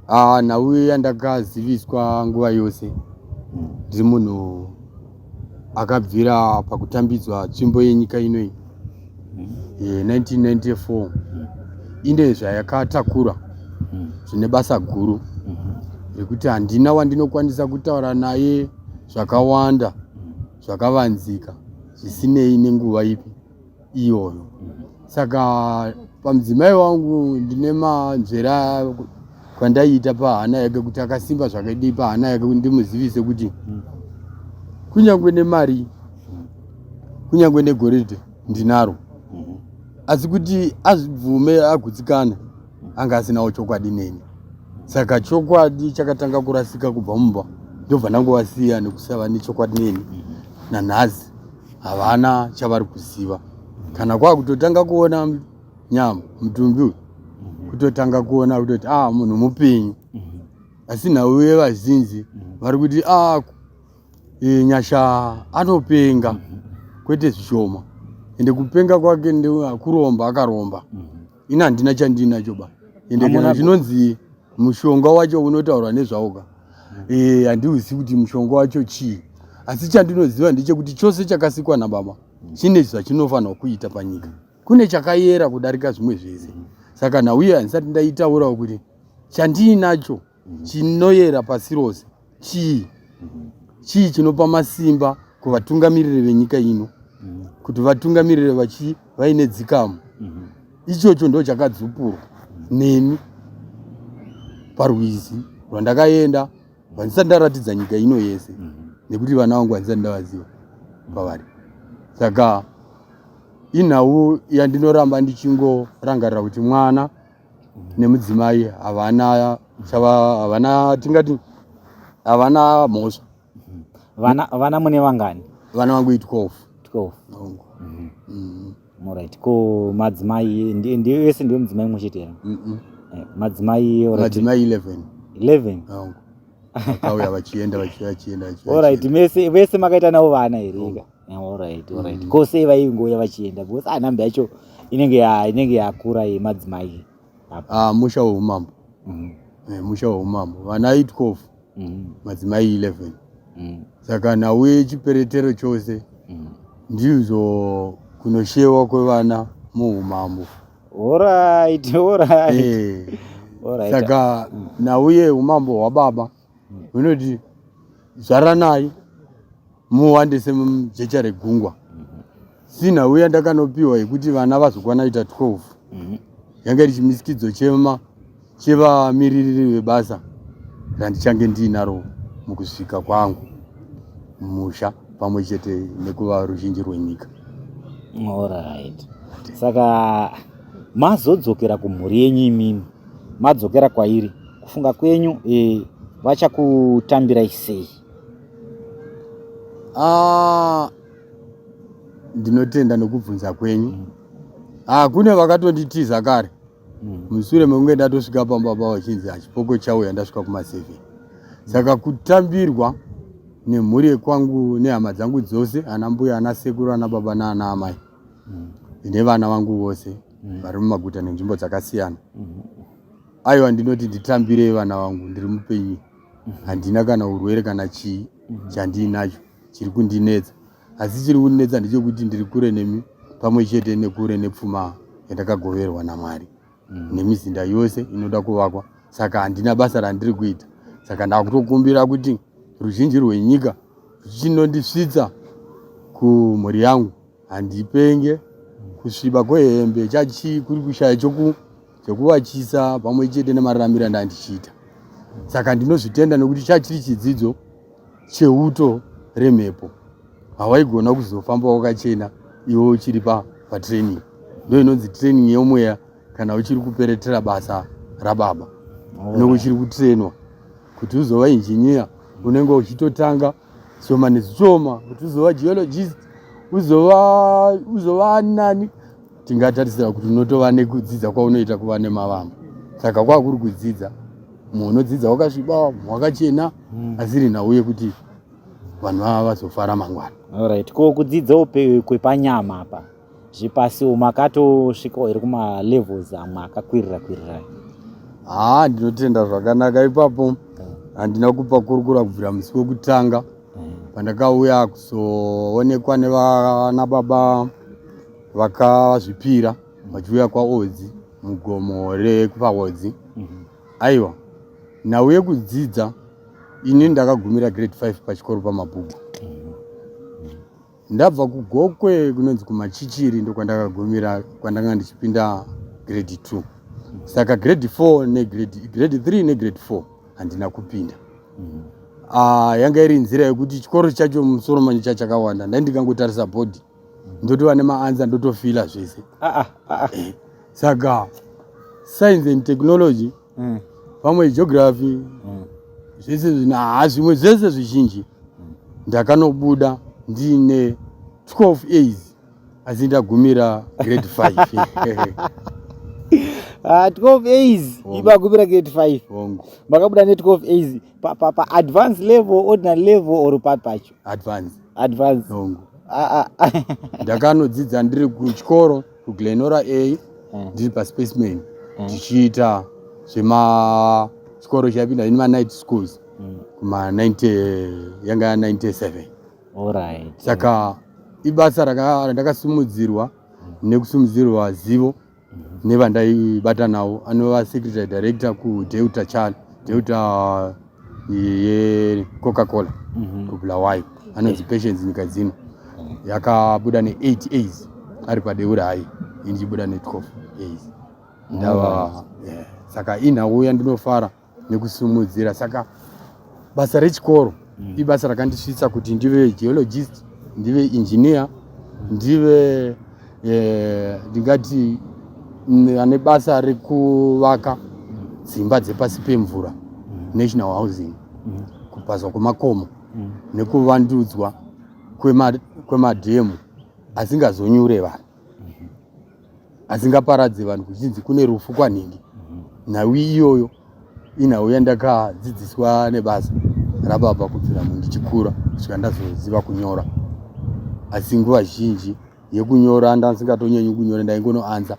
Ah, nhau yandakaziviswa nguva yose ndiri munhu akabvira pakutambidzwa tsvimbo yenyika inoyi ye 1994 ine zvayakatakura zvine basa guru rekuti handina wandinokwanisa kutaura naye zvakawanda zvakavanzika zvisinei nenguva ipi iyoyo saka pamudzimai wangu ndine manzvera kwandaiita pahana yake kuti akasimba zvakadii pahana yake kuti ndimuzivise kuti hmm. kunyange nemari kunyange negoridhe ndinaro hmm. asi kuti azvibvume agutsikana anga asinawo chokwadi neni saka chokwadi chakatanga kurasika kubva mumba ndobva ndangowasiya nekusava nechokwadi neni hmm. nanhasi havana chavari kuziva kana kwakutotanga kuona nyama mutumbi uyu mhm. kutotanga kuona kutoti a ah, munhu mupenyu mhm. asi nhau yevazinzi mhm. vari kuti a ah, e, nyasha anopenga kwete zvishoma ende kupenga kwake ndekuromba akaromba ini handina chandinacho ba ende kana zvinonzi mushonga wacho unotaurwa nezvawo ka eh, handiuzivi kuti mushonga wacho chii asi chandinoziva ndechekuti chose chakasikwa nababa chine zvachinofanirwa kuita panyika kune chakayera kudarika zvimwe zvese saka nhauye handisati ndaitaurawo kuti chandiinacho chinoyera pasi rose chii chii chinopa masimba kuvatungamiriri venyika ino kuti vatungamirire vachi vaine dzikamu ichocho ndo chakadzupurwa neni parwizi rwandakaenda vandisati ndaratidza nyika ino yese nekuti vana vangu vandisati ndavaziva pavari saka inhau yandinoramba ndichingorangarira kuti mwana nemudzimai havana chava havana tingati havana mhosva vana vana mune vangani vana vangu i 12 12 Hongu. Mhm. Mm, alright ko madzimai ndi- ndiyo vese ndiyo mudzimai mumwe chete here mm, mm. Eh, madzimai alright. madzimai 11 11 Hongu. vakauya vachienda vachienda vachienda vachienda, alright vachienda. mese vese makaita navo vana here ika Alright, alright. Mm. Ko sei vaingouya vachienda because ah number yacho inenge ya inenge yakura yemadzimai. Ah musha weumambo. Mm. Eh, musha weumambo. Vana 8 kofu. Mm. Madzimai 11. Mm. Saka nhau yechiperetero chose. Mm. Ndizvo kunoshewa kwevana muumambo. Alright, alright. Eh. Alright. Saka mm. nhau yeumambo hwababa. unoti zvaranai muwandise mujecha regungwa sinha uya ndakanopiwa yekuti vana vazokwana ita 12 mhm. yanga iri chimisikidzo chema chevamiririri vebasa randichange ndiinaro mukusvika kwangu musha pamwe chete nekuva ruzhinji rwenyika orit saka mazodzokera kumhuri yenyu imimi madzokera kwairi kufunga kwenyu e, vachakutambirai sei ah, ndinotenda nokubvunza kwenyu mm. ah, kune vakatonditiza kare mm. mushure mekunge ndatosvika pamba pa vachinzi hachipoko chauya ndasvika kumaseven saka kutambirwa nemhuri yekwangu nehama dzangu dzose ana mbuya ana sekuru ana baba naana amai mm. nevana vangu vose mm. vari mumaguta nenzvimbo dzakasiyana mm. aiwa ndinoti nditambirei vana vangu ndiri mupenyu mm. handina kana urwere kana chii mm. chandiinacho chiri kundinetsa asi chiri kundinetsa ndechekuti ndiri kure nemi pamwe chete nekure nepfuma yandakagoverwa namwari mm. nemizinda yose inoda kuvakwa saka handina basa randiri kuita saka ndakutokumbira kuti ruzhinji rwenyika ruchinondisvitsa kumhuri yangu handipenge kusviba kwehembe chachi kuri kushaya choku chekuvachisa pamwe chete nemararamiro andandichiita saka ndinozvitenda nekuti chachiri chidzidzo cheuto remhepo hawaigona kuzofamba wakachena iwe uchiri pa patraining ndo inonzi training yemweya kana uchiri kuperetera basa rababa nekuchiri kutrainwa kuti uzova injiniya unenge uchitotanga zvishoma nezvishoma kuti uzova geologist uzova uzova nani tingatarisira kuti unotova nekudzidza kwaunoita kuva nemavamba saka kwakuri kudzidza mumwe unodzidza wakasviba mumwe wakachena hmm. asiri nhau yekuti vanhu vava vazofara mangwana orit ko kudzidza upe kwepanyama apa zvipasi umu akatosvikawo here kumalevels amwe akakwirira kwirira haa ndinotenda zvakanaka ipapo eh. handina kupa kurukura kubvira musi wekutanga eh. pandakauya kuzoonekwa nevana baba vakazvipira vachiuya kwaodzi mugomo rekupaodzi mhm. aiwa nhau yekudzidza ini ndakagumira grade 5 pachikoro pamabhuku Ndabva kuGokwe kunonzi kuMachichiri ndokwandakagumira kwandanga ndichipinda grade 2. Saka grade 4 ne grade grade 3 ne grade 4 handina kupinda. Mm. Ah, yanga iri nzira yekuti chikoro chacho musoro manje chachakawanda. Ndai ndikangotarisa board ndotova nemaansa ndotofila zvese. Ah ah ah. Eh, saka science and technology mm. pamwe geography mm. zvese zvinaa zvimwe zvese zvizhinji mm. ndakanobuda ndiine 12 as asi ndagumira grade 5 Ah, 12 as ibagumira grade 5 makabuda ne 12 as pa, pa, pa advance level ordinary level or pat pacho advance advance ah, ah. ndakanodzidza ndiri kuchikoro kuglenora a mm. ndiri paspecimen mm. ndichiita zvema chikoro chaipinda ini manight schools mm. kuma 90 yanga ya 97 right. saka ibasa randakasimudzirwa nekusimudzirwa zivo nevandaibatanawo anova secretary director kudeuta chal deuta yecoca cola mhm. kubulawayo anonzi eh. patience nyika dzino yakabuda ne8 as ari padeura hayi indichibuda ne12 as ndava oh. eh, saka inhauya ndinofara nekusumudzira saka basa rechikoro mm. ibasa rakandisvitsa kuti ndive geologist ndive engineer ndive eh, ndingati mm, ane basa rekuvaka dzimba dzepasi pemvura mm. national housing mm. kupazwa kwemakomo mm. nekuvandudzwa kwemadhemu asingazonyure vanhu mm-hmm. asingaparadze vanhu kuchinzi kune rufu kwanhingi mm-hmm. nhau iyoyo inhau yandakadzidziswa nebasa rababa kubvira mundichikura kusvika ndazoziva kunyora asi nguva zhinji yekunyora ndandisingatonyanyi kunyora ndaingonoanza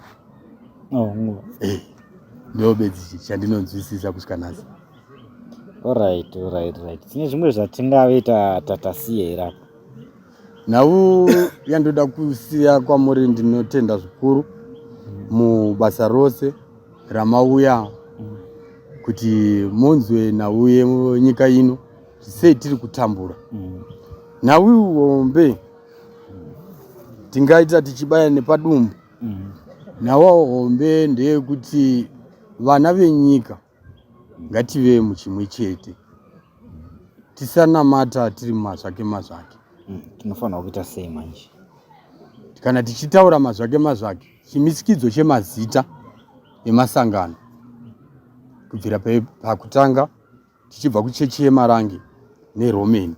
oh, eh, ndobedzi chandinonzwisisa kusvika nhasi orit orit rit tine zvimwe zvatingave tatasiye here apo nhau yandoda kusiya kwamuri ndinotenda zvikuru mubasa rose ramauya mm. kuti munzwe nhau yenyika ino sei tiri kutambura mm. nhau iwombe tingaita tichibaya nepadumbu mm. nawo hombe ndeyekuti vana venyika ngative muchimwe chete tisanamata tiri mazvake mazvake mm, tinofanira kuita sei manje kana tichitaura mazvake mazvake chimisikidzo chemazita emasangano kubvira pakutanga tichibva kuchechi yemarange neromeni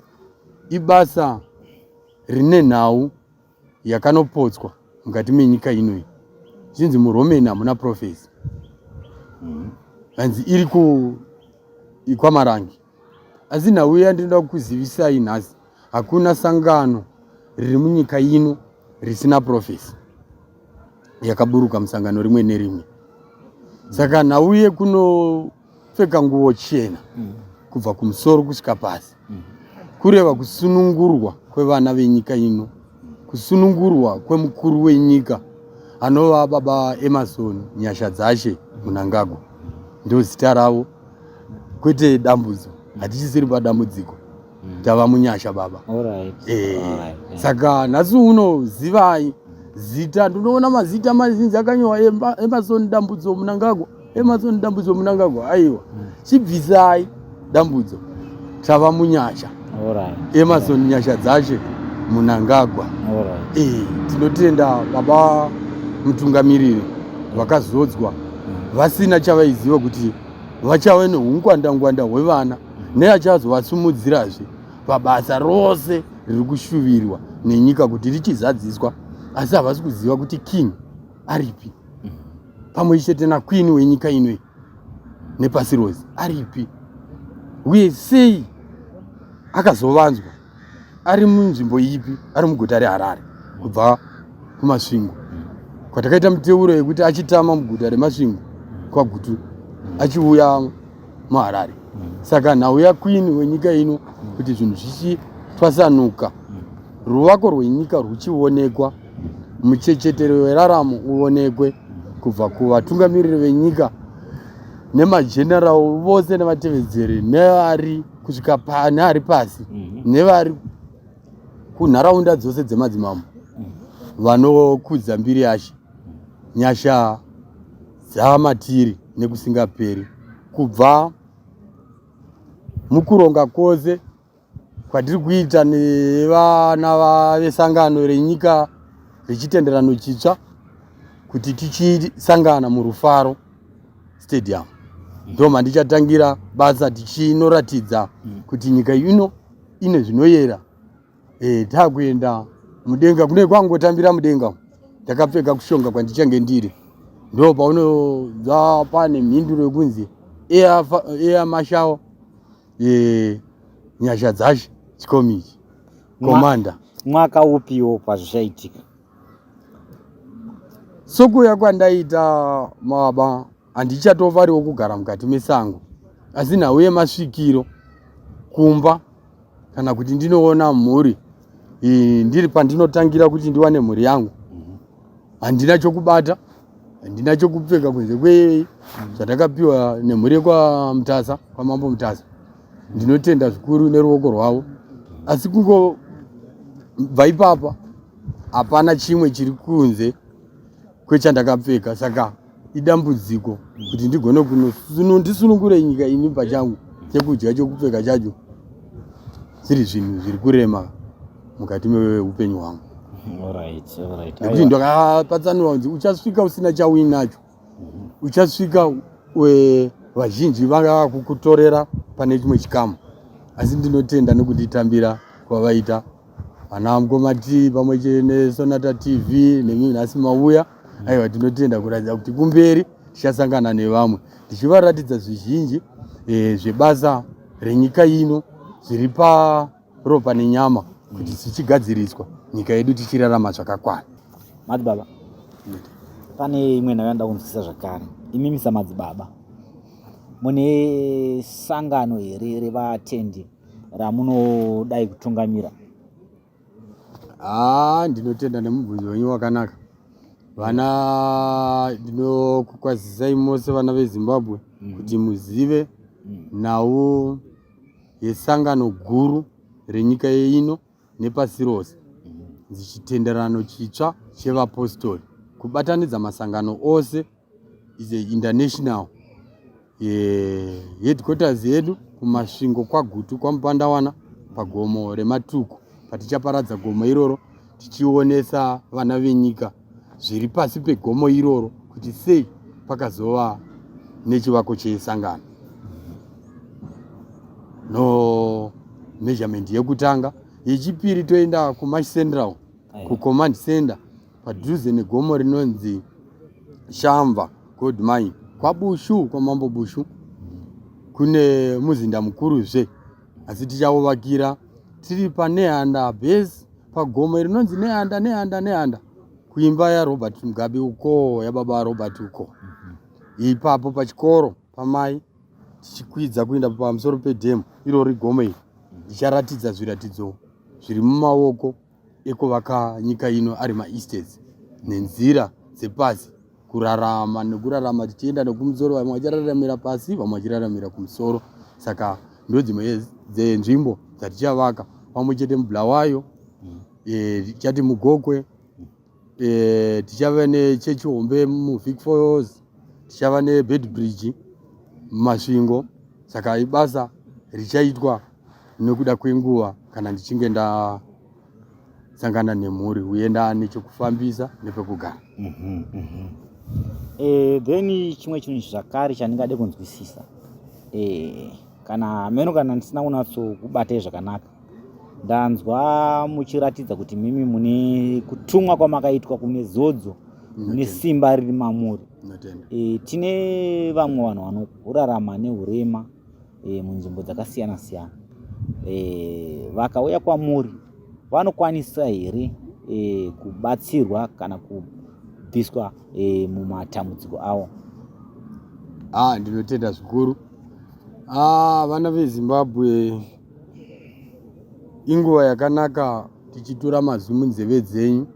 ibasa rine nhau yakanopotswa mukati menyika inoyi zvinzi muromeni hamuna profesi mm-hmm. hanzi iri kwamarange asi nhau yandinoda kukuzivisai nhasi hakuna sangano riri munyika ino risina profesi yakaburuka musangano rimwe nerimwe saka nhau yekuno pfeka nguvo chena mm. kubva kumusoro kusvika pasi mm. kureva kusunungurwa kwevana venyika ino kusunungurwa kwemukuru wenyika anova baba emarson nyasha dzashe munangagwa ndozita ravo kwete dambudzo hatichisiri padambudziko tava munyasha baba eh, saka nhasi uno zivai zita ndinoona mazita mazinzi akanyowa emasoni dambudzo munangagwa emasoni dambudzo munangagwa aiwa hmm. chibvisai dambudzo tava munyasha emasoni nyasha dzache munangagwa eh, tinotenda baba mutungamiriri vakazodzwa hmm. vasina chavaiziva kuti vachave neungwandangwanda hwevana neachazovasimudzirazve pabasa rose riri kushuvirwa nenyika kuti richizadziswa asi havasi kuziva kuti king aripi pamwe chete nakwini wenyika inoi nepasi rose aripi uye sei akazovanzwa ari munzvimbo ipi ari muguta reharare kubva kumasvingo kwatakaita muteuro yekuti achitama muguta remasvingo kwagutu achiuya muharare saka nhau yakwini wenyika ino kuti zvinhu zvichitwasanuka ruvako rwenyika rwuchionekwa muchechetero weraramo uonekwe kubva kuvatungamiriri venyika nemageneral vose nevatevedzeri nevari kusvika pane ari pasi mhm. nevari kunharaunda dzose dzemadzimambo mhm. vanokudza mbiri yashe nyasha dzamatiri nekusingaperi kubva mukuronga kwose kwatiri kuita nevana vesangano renyika rechitenderano chitsva kuti tichisangana murufaro stadium ndo mandichatangira basa tichinoratidza mm. kuti nyika ino ine zvinoyera e, takuenda mudenga kune kwangotambira mudenga ndakapfeka kushonga kwandichange ndiri ndo paunonzwa pane mhinduro yekunzi eya mashawo e, nyasha dzashe chikomichi komanda mwaka upiwo pazvichaitika Sokuuya kwandaita mababa handichatovariwo kugara mukati mesango asi nhau yemasvikiro kumba kana kuti ndinoona mhuri ndiri pandinotangira kuti ndiwane mhuri yangu handina chokubata handina chokupfeka kunze kwe zvandakapiwa nemhuri yekwamutasa kwamambo mutasa ndinotenda zvikuru neruoko rwavo asi kungobva ipapa hapana chimwe chiri kunze kwechandakapfeka saka idambudziko kuti ndigone kunondisunungure nyika ini pachangu chekudya chokupfeka chacho zviri zvinhu zviri kurema mukati meupenyu hwangu nekuti ndakapatsanura kunzi uchasvika usina chauinacho mhm. uchasvika vazhinji vangava kukutorera pane chimwe chikamu asi ndinotenda nekunditambira kwavaita vana mukoma t pamwe chete nesonata tv nemi nhasi mauya mhm. aiwa tinotenda kuratidza kuti kumberi tichasangana nevamwe ndichivaratidza zvizhinji e, zvebasa renyika ino zviri pa ropa nenyama kuti dzichigadziriswa nyika yedu tichirarama zvakakwana madzibaba pane imwe nhayo yandida kunzwisisa zvakare imimi samadzibaba mune sangano here revatendi ramunodai kutungamira haa ah, ndinotenda nemubvunzo wenyu wakanaka vana ndinokukwazisai mose vana vezimbabwe mm. kuti muzive mm. nhau yesangano guru renyika yeino nepasi rose dzichitenderano chitsva chevapostori kubatanidza masangano ose is a international eh, headquarters yedu kumasvingo kwagutu kwamupandawana pagomo rematuku patichaparadza gomo iroro tichionesa vana venyika zviri pasi pegomo iroro kuti sei pakazova nechivako chesangano no measurement yekutanga yechipiri toenda kumash central kucommand center padhuze negomo rinonzi shamva gold mine kwabushu kwamambo bushu kune muzinda mukuruzve asi tichauvakira tiri paneanda base pagomo rinonzi neanda neanda neanda kuimba yarobert mugabe ukoo yababa robert uko ipapo pachikoro pamai tichikwidza kuenda pamusoro pedhemu irori gomo iri ndicharatidza zviratidzo zviri mumaoko ekuvaka nyika ino ari maestates nenzira dzepasi kurarama nekurarama tichienda nekumusoro vamwe vachiraramira pasi vamwe vachiraramira kumusoro saka ndodzimwe dzenzvimbo dzatichavaka pamwe chete mublawayo mm. eh, tichati mugokwe eh, tichava nechechi hombe muvic foyos tichava nebed bridge mumasvingo saka ibasa richaitwa nekuda kwenguva kana ndichinge nda sangana nemhuri uye ndaane chekufambisa nepekugara mhm, mhm. eh, then chimwe chinhu zvakare chandingade kunzwisisa eh, kana hameno kana ndisina kunatsokubatei zvakanaka ndanzwa muchiratidza kuti mimi mune kutumwa kwamakaitwa kune zodzo mune simba riri mamuri e, tine vamwe vanhu vanorarama neurema e, munzvimbo dzakasiyana siyana e, vakauya kwamuri vanokwanisa here e, kubatsirwa kana kubviswa e, mumatambudziko avo ah, ndinotenda zvikuru ah, vana vezimbabwe ah, inguva yakanaka tichitura mazwi munzeve dzenyu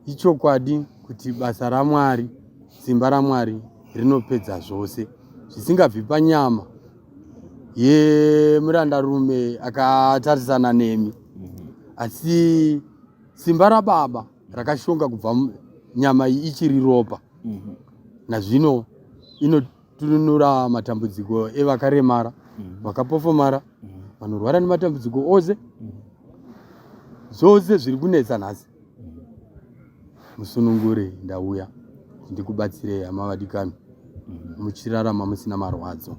ichokwadi kuti basa ramwari simba ramwari rinopedza zvose zvisingabvi panyama yemurandarume akatarisana nemi mhm. asi simba rababa rakashonga kubva nyama iyi ichiri ropa mhm. nazvino tununura matambudziko evakaremara mm. vakapofomara mm. vanorwara nematambudziko ose mm. zvose zviri kunetsa nhasi musunungure ndauya ndikubatsirei hama vadikani muchirarama musina marwadzo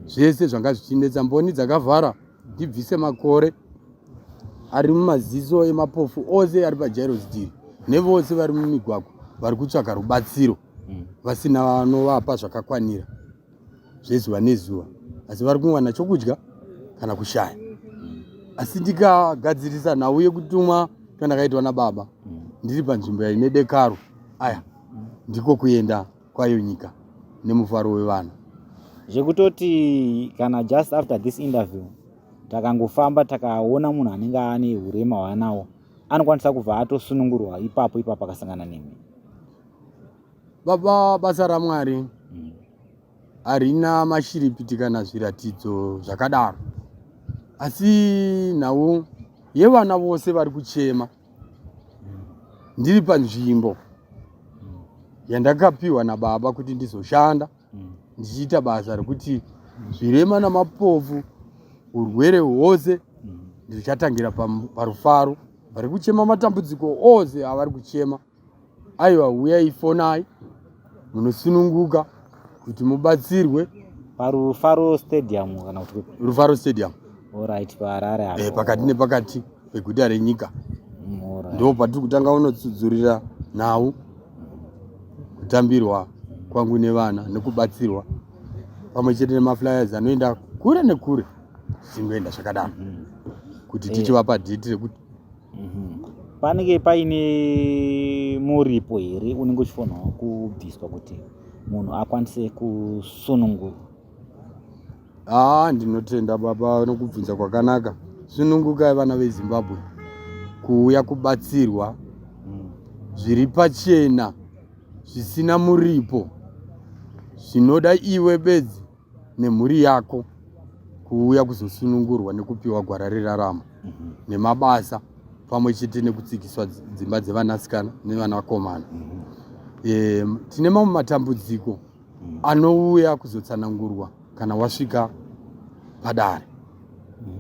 zvese zvanga zvichinetsa mboni dzakavhara ndibvise makore ari mumaziso emapofu ose ari pajairosdiri nevose vari mumigwagwa vari kutsvaka rubatsiro mm. vasina vanovapa zvakakwanira zvezuva nezuva asi vari kuwana chokudya kana kushaya mm. asi ndikagadzirisa nhau yekutumwa kandakaitwa nababa mm. ndiri panzvimbo yaine dekaro aya mm. ndiko kuenda kwayo nyika nemufaro wevana zvekutoti kana just after this interview takangofamba takaona munhu anenge ane urema hwaanawo anokwanisa kubva atosunungurwa ipapo ipapo akasangana nemi baba basa ramwari mm. harina mashiripiti kana zviratidzo zvakadaro asi nhau yevana vose vari kuchema ndiri panzvimbo yandakapiwa nababa kuti ndizoshanda ndichiita basa rekuti zvirema namapofu urwere hwose ndichatangira parufaro vari kuchema matambudziko ose avari kuchema aiwa huyai fonai munosununguka kuti mubatsirwe parufaro stadium kana kuti rufaro stadium orit paharare eh, pakati nepakati peguta renyika mm, ndo patiri kutanga unotsudzurira nhau kutambirwa kwangu nevana nekubatsirwa pamwe chete nemaflyers anoenda kure nekure zvichingoenda zvakadaro mm-hmm. kuti eh. tichivapa dhiti rekuti Mhm. panenge paine muripo here unenge uchifanirwa kubviswa kuti munhu akwanise kusunungurwa haa ndinotenda baba nokubvunza kwakanaka sunungukai vana vezimbabwe kuuya kubatsirwa Mm. zviri pachena zvisina muripo zvinoda iwe bedzi nemhuri yako kuuya kuzosunungurwa nekupiwa gwara reraramo mhm. nemabasa pamwe chete nekutsikiswa dzimba dzevanasikana nevanakomana e, tine mamwe matambudziko mhm. anouya kuzotsanangurwa kana wasvika padare mhm.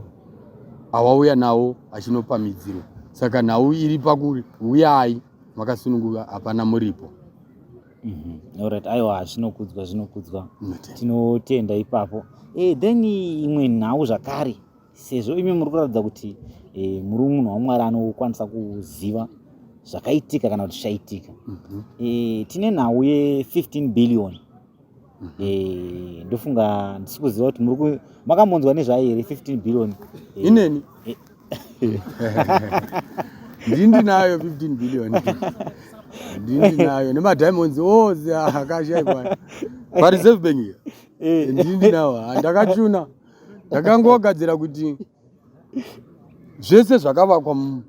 awauya nawo achinopamidzirwa saka nhau iri pakuri uyai makasunungurwa hapana muripo Mhm. Alright, aiwa zvinokudzwa zvinokudzwa Matenda. tinotenda ipapo e, then imwe nhau zvakare sezvo imi muri kuratidza kuti e, muri munhu wamwari anokwanisa kuziva zvakaitika kana kuti zvaitika Mhm. e, tine nhau ye 15 billion Eh, ndofunga ndisi kuziva kuti muri ku- makambonzwa nezvayo here 15 billion Eh, ineni eh. ndini ndinayo 15 billion ndini ndinayo nemadiamonds ose akashaikwa pareserve bank iyo Eh. ndini ndinawo Ah, ndakachuna ndakangogadzira kuti zvese zvakavakwa mu-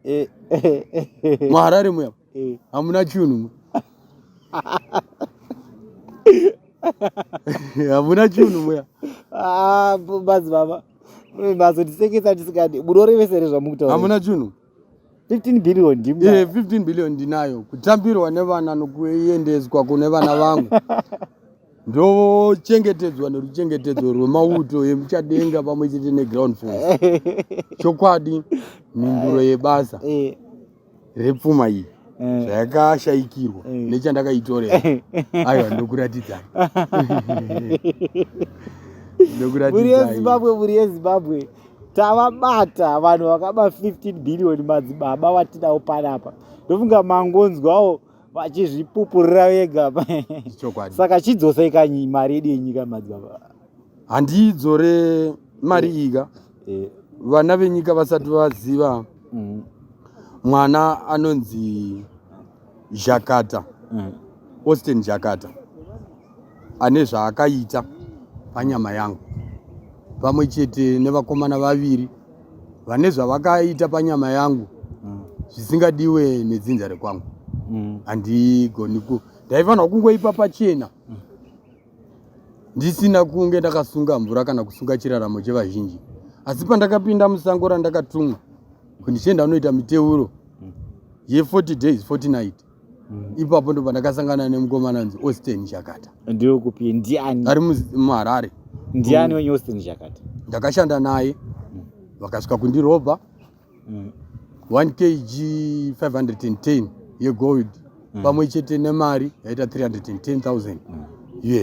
Eh, eh, eh, eh. muharare muya eh. hamuna chunhu hamuna chunhu muya ah, bazi baba bazo tisekesa tisikadi munorevesere zvamukutaura hamuna chunhu 15 billion ndimna yeah, 15 billion ndinayo kutambirwa nevana nokuendeswa kune vana vangu ndochengetedzwa neruchengetedzo rwemauto emuchadenga pamwe chete neground force chokwadi mhinduro yebasa eh. repfuma iyi eh. zvayakashaikirwa eh. nechandakaitorera aiwa ndokuratidzai mhuri yezimbabwe mhuri yezimbabwe tavabata vanhu vakaba 15 billion madzibaba vatinawo panapa ndofunga mangonzwawo vachizvipupurira vega saka chidzosei kanyi mari yedu yenyika madzibaba handiidzore mari ika eh, vana venyika vasati vaziva mm. mwana anonzi zhakata mm. austin zhakata ane zvaakaita panyama yangu pamwe chete nevakomana vaviri vane zvavakaita panyama yangu mm. zvisingadiwe nedzinza rekwangu mm. handigoni mm. ku ndaifanirwa kungoipa pachena mm. ndisina kunge ndakasunga mvura kana kusunga chiraramo chevazhinji asi pandakapinda musango randakatumwa kuti ndichienda unoita miteuro ye40 days 40 night mm. ipapo ndo pandakasangana nemukomana anzi austin chakata ndiwe kupi ndiani ari muharare ndiani wenye austin chakata ndakashanda naye mm. vakasvika kundirobha mm. 1 kg 510 yegold mm. pamwe chete nemari yaita 310000 mm.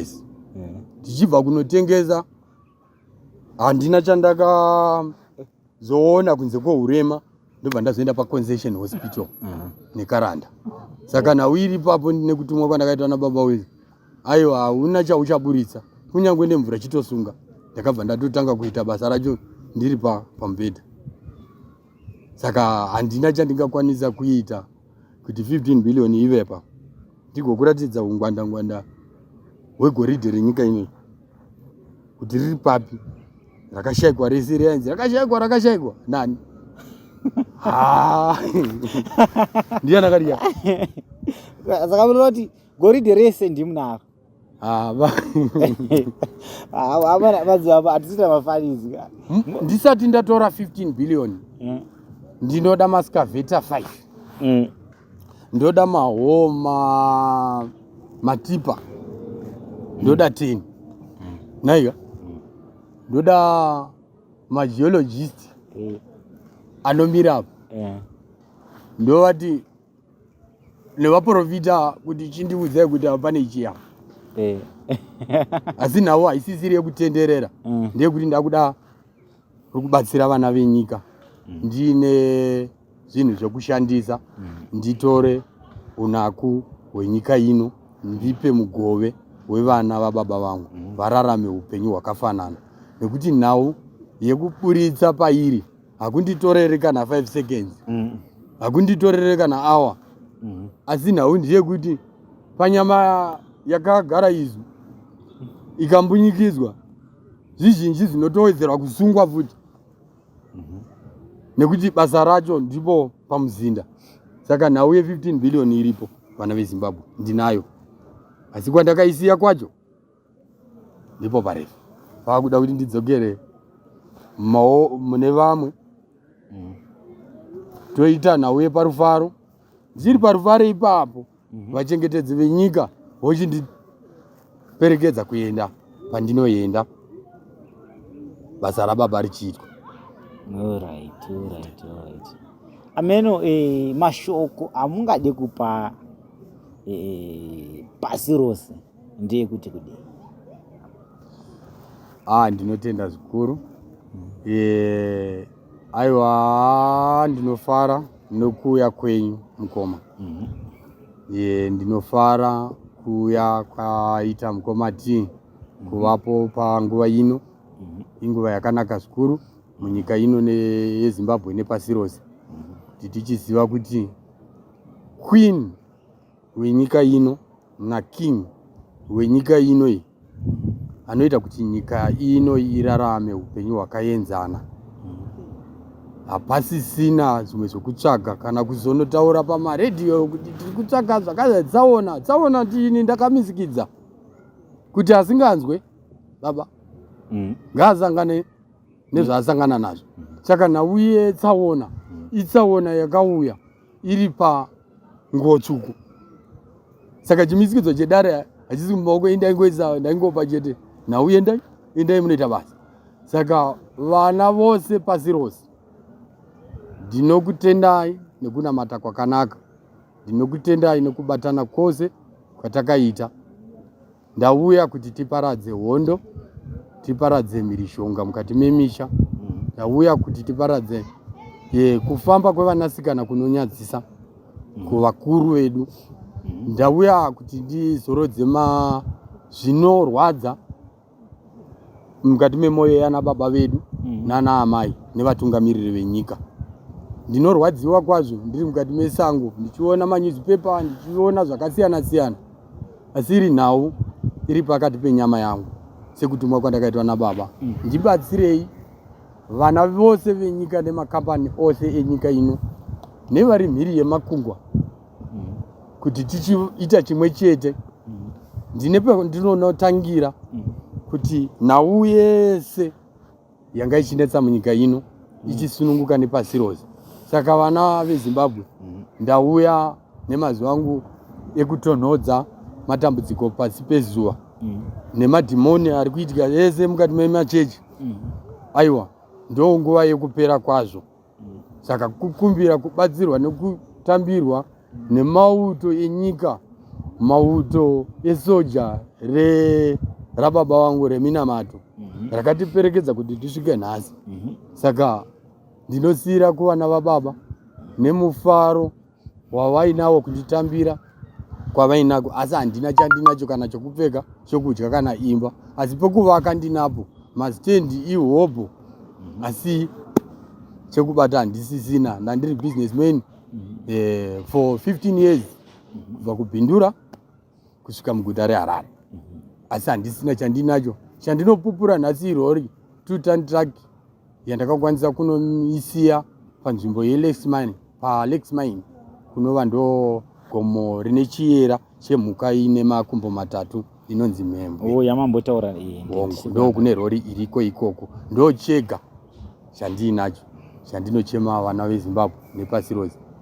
us mm. tichibva kunotengesa handina chandakazoona kunze kwourema ndobva ndazoenda paconcession hospital mm. nekaranda saka nhau iri ipapo nekutumwa kwandakaitwa nababa wezi aiwa hauna chauchaburitsa kunyange nemvura chitosunga ndakabva ndatotanga kuita basa racho ndiri pamubhedha saka handina chandingakwanisa kuita kuti 15 billion ivepa ndigokuratidza ungwandangwanda hwegoridhe renyika ino kuti riri papi rakashaikwa rese riyanzi rakashaikwa rakashaikwa nani ndiyanakariya saka munoti goridhe rese ndimunaro havaatiita mafanizi ndisati ndatora 15 billion mm. ndinoda mascaveta 5 mm. ndoda mahoma matipa ndoda 10 mm. naiga ndoda mageologist anomira apo ndovati nevaprofita kuti chindiudzai kuti apa pane chiya eh. asi nhau haisisiri yekutenderera mm. ndeyekuti ndakuda rikubatsira vana venyika mm. ndiine zvinhu zvekushandisa mm. nditore unaku hwenyika ino ndipe mugove wevana vababa vangu vararame upenyu hwakafanana nekuti nhau yekuburitsa pairi hakunditorere kana 5 seconds mm. hakunditorere kana hour mm. asi nhau ndeyekuti panyama yakagara izwi ikambunyikidzwa zvizhinji zvinotowedzerwa kusungwa futi mhm. nekuti basa racho ndipo pamuzinda saka nhau ye 15 billion iripo vana vezimbabwe ndinayo asi kwandakaisiya kwacho ndipo parefu vakuda kuti ndidzokere mao mune vamwe mm. toita nhau yeparufaro ndiri parufaro ipapo mhm. vachengetedzi venyika vochindiperekedza kuenda pandinoenda basa rababa richiitwa alright alright alright ameno eh, mashoko amungade kupa eh, pasi rose ndeyekuti kudii ah ndinotenda zvikuru eh, aiwa ndinofara nokuuya kwenyu mukoma mm -hmm. e, ndinofara kuuya kwaita mukoma ti mm -hmm. kuvapo panguva ino mm -hmm. inguva yakanaka zvikuru munyika ino yezimbabwe nepasi rose mhm. kuti tichiziva kuti queen wenyika ino naking wenyika ino iyi anoita kuti nyika ino irarame upenyu hwakaenzana hapasisina zvimwe zvekutsvaga kana kuzonotaura pamaredhiyo kuti tiri kutsvaga zvakadai tsaona tsaona ndini ndakamizikidza kuti asinganzwe baba mm. ngaasangane nezvaasangana nazvo saka nauye tsaona mm. itsaona yakauya iri panguwo tsvuku saka chimisikidzo chedare hachisi mumaoko endai ngoisa ndaingopa chete nhau yendai endai munoita basa saka vana vose pasi rose ndinokutendai nekunamata kwakanaka ndinokutendai nekubatana kwose kwatakaita Ndauya kuti tiparadze hondo, tiparadze mhirishonga mukati memisha. Mm. Ndauya kuti tiparadze ye, kufamba kwevanasikana kunonyadzisa mm. kuvakuru vedu. Mm. Ndauya kuti ndizorodze ma zvinorwadza mukati memwoyo yana baba vedu mm. nana amai nevatungamiriri venyika ndinorwadziwa kwazvo ndiri mukati mesango ndichiona manyuzipepa ndichiona zvakasiyana siyana asi iri nhau iri pakati penyama yangu sekutumwa kwandakaitwa nababa mm. ndibatsirei vana vose venyika nemakambani ose enyika ino nevari mhiri yemakungwa mm. kuti tichiita chimwe chete mm. ndine pandinonotangira kuti nhau yese yanga ichinetsa munyika ino mm. ichisununguka nepasi rose saka vana vezimbabwe mm. ndauya nemazuva angu ekutonhodza matambudziko pasi pezuva mm. nemadhimoni ari kuitika ese mukati memachechi aiwa ndo nguva yekupera kwazvo saka kukumbira kubatsirwa nekutambirwa nemauto enyika mauto esoja re rababa wangu reminamato mm -hmm. rakatiperekedza kuti tisvike nhasi mm -hmm. saka ndinosiyira kuvana vababa nemufaro wavainawo kunditambira kwavainako asi handina chandinacho kana chokupfeka chokudya kana imba asi pokuvaka ndinapo mastendi ihobho asi chekubata handisisina ndandiri business man eh, for 15 years kubva kubhindura kusvika muguta reharare asi handisina chandinacho chandinopupura nhasi irori two ton truck yandakakwanisa kunoisiya panzvimbo yelex mine palex mine kunova ndo gomo rine chiyera chemhuka ine makumbo matatu inonzi mhembwe oh, yamambotaura ndo kune rori iriko ikoko ndo chega chandiinacho chandinochema vana vezimbabwe nepasi rose